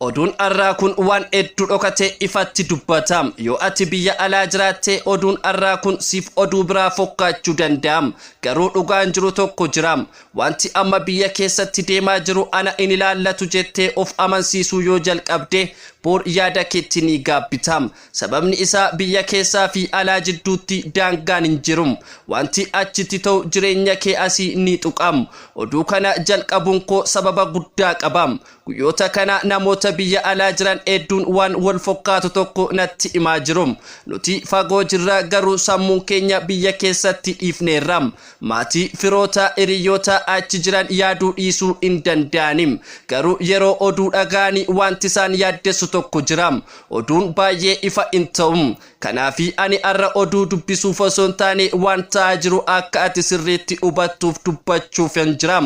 Oduun arraa kun waan heddu dhokatee ifatti dubbata. Yoo ati biyya alaa jiraatte oduun arraa kun siif oduu biraa fokkaachuu danda'a. Garuu dhugaan jiru tokko jira. Waanti amma biyya keessatti deemaa jiru ana hin ilaallatu jettee of amansiisuu yoo jalqabde boor yaada keetti ni gaabbita. Sababni isaa biyya keessaa fi alaa jidduutti daangaan hin jiru. Waanti achitti ta'u jireenya kee asii ni tuqa. Oduu kana jalqabuun koo sababa guddaa qaba. Guyyoota kana namoota biyya alaa jiran hedduun waan wal fokkaatu tokko natti himaa jiru. Nuti fagoo jirra garuu sammuun keenya biyya keessatti dhiifneerra. Maatii, firoota, hiriyyoota achi jiran yaaduu dhiisuu hin danda'ani. Garuu yeroo oduu dhaga'ani wanti isaan yaaddessu tokko jira. Oduun baay'ee ifa hin ta'u. Kanaafi ani arra oduu dubbisuuf osoo hin taane waan ta'aa jiru akka ati sirriitti hubattuuf dubbachuufan jira.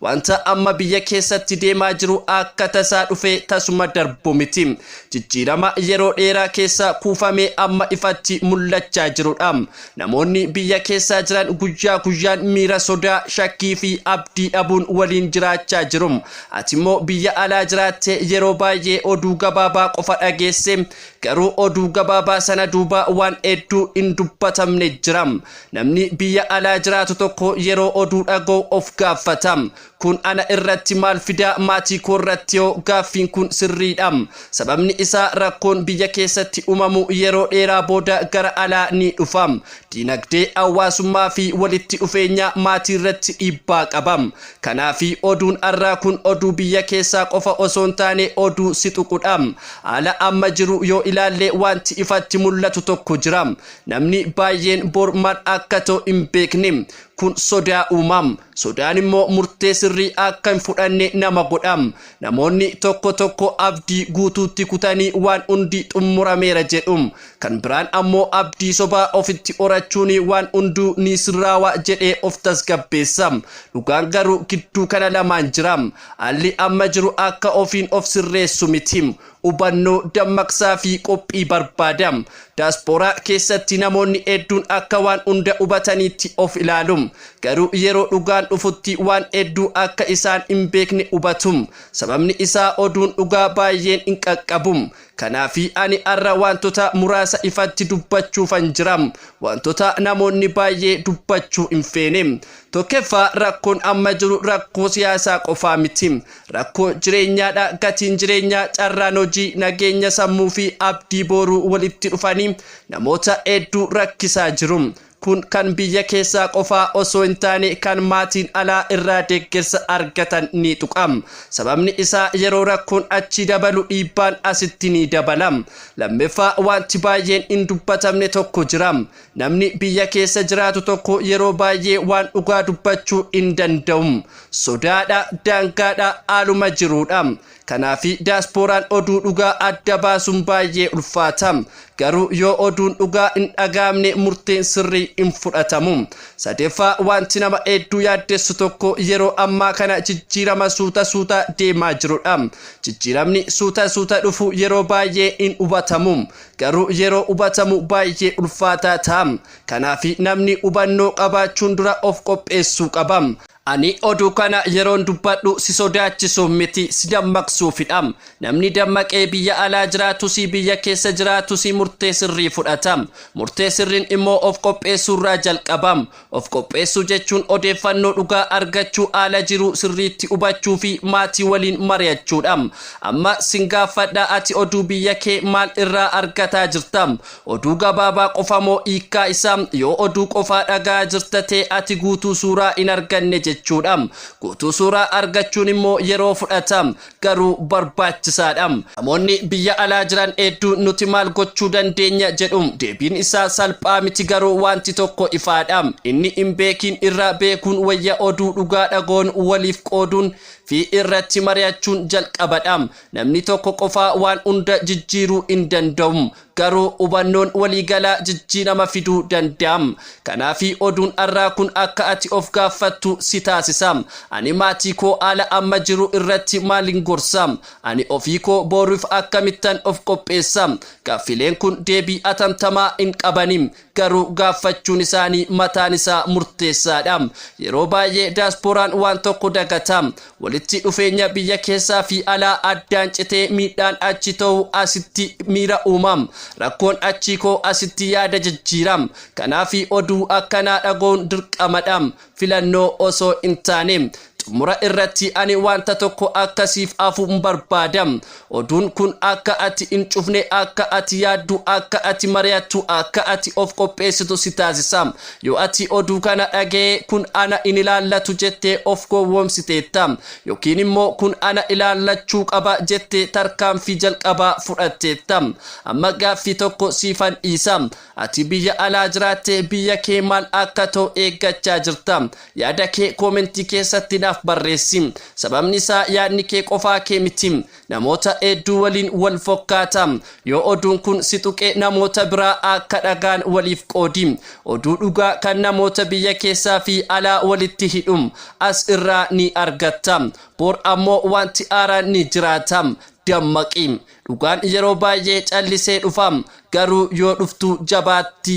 Wanta amma biyya keessatti deemaa jiru akka tasaa dhufee tasuma darbu miti. Jijjiirama yeroo dheeraa keessa kuufamee amma ifatti mul'achaa jirudha. Namoonni biyya keessaa jiran guyyaa guyyaan miira sodaa, shakkii fi abdii dhabuun waliin jiraachaa jiru. Atimmoo biyya alaa jiraattee yeroo baay'ee oduu gabaabaa qofa dhageessee Garuu oduu gabaabaa sana duuba waan hedduu hin dubbatamne jira. Namni biyya alaa jiraatu tokko yeroo oduu dhaga'u of gaaffata. Kun ana irratti maal fida? Maatii koo irratti hoo? Gaaffiin kun sirriidha. Sababni isaa rakkoon biyya keessatti uumamu yeroo dheeraa booda gara alaa ni dhufa. Diinagdee, hawaasummaa fi walitti dhufeenya maatii irratti dhiibbaa qaba. Kanaafi oduun arraa kun oduu biyya keessaa qofa osoo hin taane oduu si tuqudha. Haala amma jiru yoo ilaalle waanti ifatti mul'atu tokko jira. Namni baayyeen bor mal akka ta'u hin beekne. Kun sodaa uuma. Sodaan immoo murtee sirrii akka hin fudhanne nama godha. Namoonni tokko tokko abdii guutuutti kutanii waan hundi xummurameera jedhu. Kan biraan ammoo abdii sobaa ofitti horachuun waan hunduu ni sirraawa jedhee of tasgabbeessa. Dhugaan garuu gidduu kana lamaan jira. Haalli amma jiru akka ofiin of sirreessu miti. hubannoo, dammaqsaa fi qophii barbaada. Daaspooraa keessatti namoonni hedduun akka waan hunda hubataniitti of ilaalu. Garuu yeroo dhugaan dhufutti waan hedduu akka isaan hin beekne hubatu. Sababni isaa oduun dhugaa baay'een hin qaqqabu. Kanaafi ani har'a waantota muraasa ifatti dubbachuufan jira. Waantota namoonni baay'ee dubbachuu hin feene. Tokkeffaa, rakkoon amma jiru rakkoo siyaasaa qofaa miti. Rakkoo jireenyaadha, gatiin jireenyaa, carraan hojii, nageenya sammuu fi abdii booruu walitti dhufanii namoota hedduu rakkisaa jiru. Kun kan biyya keessaa qofaa osoo hin taane kan maatiin alaa irraa deeggarsa argatan ni tuqa. Sababni isaa yeroo rakkoon achii dabalu dhiibbaan asitti ni dabala. Lammaffaa wanti baay'een hin dubbatamne tokko jira. Namni biyya keessa jiraatu tokko yeroo baay'ee waan dhugaa dubbachuu hin danda'u. Sodaadha, daangaadha, haaluma jiruudha. Kanaaf daaspooraan oduu dhugaa adda baasuun baay'ee ulfaata. Garuu yoo oduun dhugaa hin dhaga'amne murteen sirrii hin fudhatamu. Sadeeffaa wanti nama hedduu yaaddessu tokko yeroo ammaa kana jijjiirama suuta suuta deemaa jirudha. Jijjiiramni suuta suuta dhufu yeroo baay'ee hin hubatamu. Garuu yeroo hubatamu baay'ee ulfaataa ta'a. Kanaafi namni hubannoo qabaachuun dura of qopheessuu qaba. Ani oduu kana yeroon dubbadhu si sodaachisuuf miti, si dammaqsuufidha. Namni dammaqee biyya alaa jiraatus biyya keessa jiraatus murtee sirrii fudhata. Murtee sirriin immoo of qopheessuurraa jalqaba. Of qopheessuu jechuun odeeffannoo dhugaa argachuu, haala jiru sirriitti hubachuu fi maatii waliin mari'achuu dha. Amma sin gaaffadha, ati oduu biyya kee maal irraa argataa jirta? Oduu gabaabaa qofa moo hiikkaa isaa? Yoo oduu qofaa dhaga'aa jirta ta'e ati guutuu suuraa hin arganne jechuu dha. Guutuu suuraa argachuun immoo yeroo fudhata. garuu barbaachisaa dha. Namoonni biyya alaa jiran hedduu nuti maal gochuu dandeenya jedhu. Deebiin isaa salphaa miti garuu waanti tokko ifaa dha. Inni hin beekiin irraa beekuun wayya oduu dhugaa dhaga'uun waliif qooduun fi irratti mari'achuun jalqaba dha. Namni tokko qofaa waan hunda jijjiiruu hin danda'u. Garuu hubannoon waliigalaa jijjiirama fiduu danda'a. Kanaaf oduun har'aa kun akka ati of gaaffattu si taasisa. Ani maatii koo haala amma jiru irratti maalin gorsa? Ani ofii koo boruuf akkamittan of qopheessa? Gaaffileen kun deebii atamtamaa hin qabani. Garuu gaaffachuun isaanii mataan isaa murteessaa dha. Yeroo baay'ee Daaspooraan waan tokko dagata. Walitti dhufeenya biyya keessaa fi alaa addaan citee miidhaan achi ta'u asitti miira uuma. Rakkoon achii koo asitti yaada jijjiira. Kanaafi oduu akkanaa dhaga'uun dirqama dha. filannoo osoo hin taane. Xumura irratti ani wanta tokko akka siif hafu barbaada. Oduun kun akka ati hin cufne, akka ati yaaddu, akka ati mari'attu, akka ati of qopheessitu si taasisa. Yoo ati oduu kana dhaga'ee kun ana hin ilaallatu jettee of gowwoomsiteetta. Yookiin immoo kun ana ilaallachuu qaba jettee tarkaanfii jalqabaa fudhatteetta. Amma gaaffii tokko siifan dhiisa. Ati biyya alaa jiraattee biyya kee maal akka ta'u eeggachaa jirta? Yaada kee koomentii keessatti naaf barreessi. Sababni isaa yaadni kee qofaa kee miti. Namoota hedduu waliin wal fokkaata. Yoo oduun kun si tuqe namoota biraa akka dhaga'an waliif qoodi. Oduu dhugaa kan namoota biyya keessaa fi alaa walitti hidhu as irraa ni argatta. Bor ammoo wanti haaraan ni jiraata. Dammaqi! Dhugaan yeroo baay'ee callisee dhufa, garuu yoo dhuftu jabaatti.